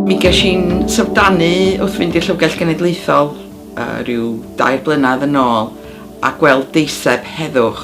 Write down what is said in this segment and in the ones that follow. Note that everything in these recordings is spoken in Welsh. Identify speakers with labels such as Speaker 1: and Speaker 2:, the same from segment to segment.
Speaker 1: Mi ges i'n syfrdanu wrth fynd i'r Llyfrgell Genedlaethol uh, rhyw dair blynedd yn ôl a gweld deiseb heddwch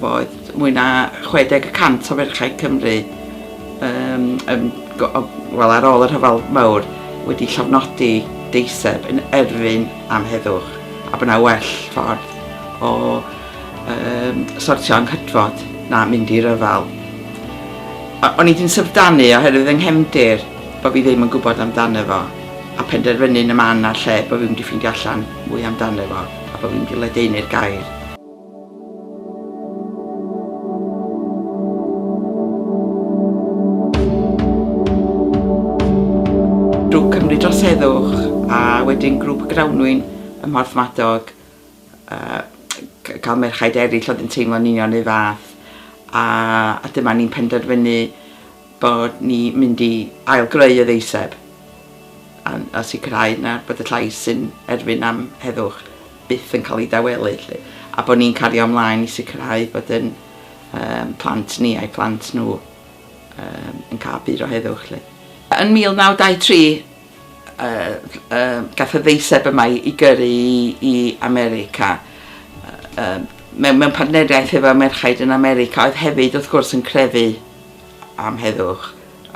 Speaker 1: fo oedd mwy na 60 y cant o ferchau Cymru um, um, wel, ar ôl y rhyfel mawr wedi llofnodi deiseb yn erfyn am heddwch a bod yna well ffordd o um, sortio anghydfod na mynd i ryfel. O'n i di'n syfrdanu oherwydd yng nghefndir bod fi ddim yn gwybod amdano fo a penderfynu'n y man a'r lle bod fi wedi ffeindio allan mwy amdano fo a bod fi wedi ledaenu'r gair. Drwy Cymru dros heddwch a wedyn grŵp Grawnwyn ym Mhorthmadog yy cael merchaid eraill oedd yn teimlo'n union ei fath a, a dyma ni'n penderfynu bod ni mynd i ailgreu y ddeiseb a, a sicrhau na bod y llais sy'n erfyn am heddwch byth yn cael ei dawelu lle, a bod ni'n cario ymlaen i sicrhau bod yn um, plant ni a'i plant nhw um, yn cael byd o heddwch lle. Yn 1923, Gaf y ddeiseb yma i gyrru i America mewn partneriaeth efo merchaid yn America oedd hefyd wrth gwrs yn crefu am heddwch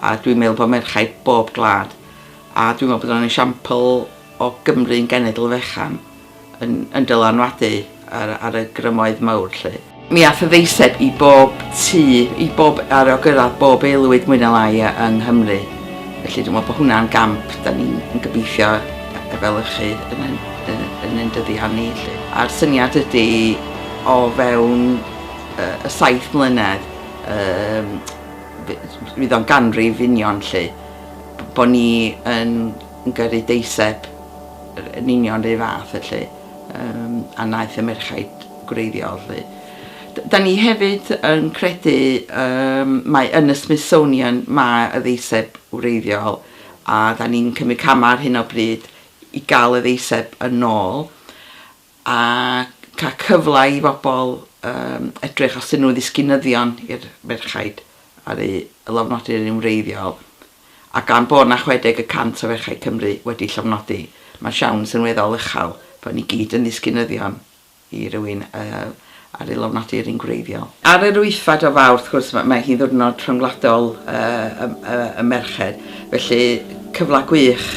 Speaker 1: a dwi'n meddwl bod merchaid bob gwlad a dwi'n meddwl bod o'n esiampl o Gymru'n genedl fechan. yn yn dylanwadu ar ar y grymoedd mawr 'lly. Mi ath y ddeiseb i bob tŷ, i bob, ar o gyrradd bob aelwyd mwy ne lai yy yng Nghymru. Felly dwi me'wl bo hwnna'n gamp 'dan ni'n yn gobeithio yy efelychu yn yn yn yn ein dyddiau ni 'lly. A'r syniad ydi o fewn yy y saith mlynedd yym f- fydd o'n ganrif union 'lly b- bo ni yn yn gyrru deiseb yn union yr un fath felly yym a wnaeth y merchaid gwreiddiol 'lly. D- 'dan ni hefyd yn credu yym mai yn y Smithsonian mae y ddeiseb wreiddiol a 'dan ni'n cymryd camau ar hyn o bryd i gael y ddeiseb yn ôl. a cael cyfle i bobl yym edrych os 'dyn nhw'n ddisgynyddion i'r ferchaid ar eu llofnodion yn wreiddiol, a gan bod 'na 60 y cant o ferchaid Cymru wedi llofnodi, mae'r siawns yn weddol uchel bod ni gyd yn ddisgynyddion i rywun yy ar ei lofnodi'r un gwreiddiol. Ar yr wythfed o Fawrth, wrth gwrs, mae hi'n ddiwrnod rhyngwladol y merched, felly cyfle gwych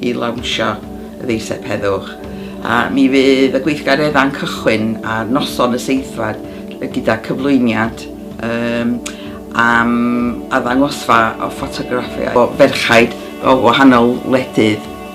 Speaker 1: i lawnsio y ddeiseb heddwch. A mi fydd y gweithgareddau'n cychwyn ar noson y seithfed gyda cyflwyniad um, am addangosfa o ffotograffiau o ferchaid o wahanol wledydd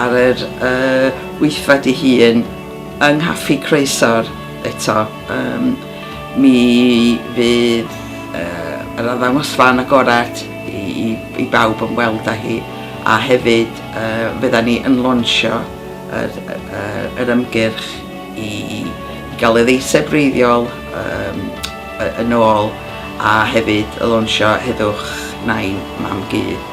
Speaker 2: ar yr
Speaker 1: wythfed ei hun yng Nghaffi Croesor eto. Um, mi fydd uh, yr addangosfa yn agored i, i, i bawb yn weld â hi a hefyd uh, fydda ni yn lonsio yr, yr, yr ymgyrch i, i gael ei ddeiseb reiddiol um, yn ôl a hefyd y lonsio heddwch nain mam gyd.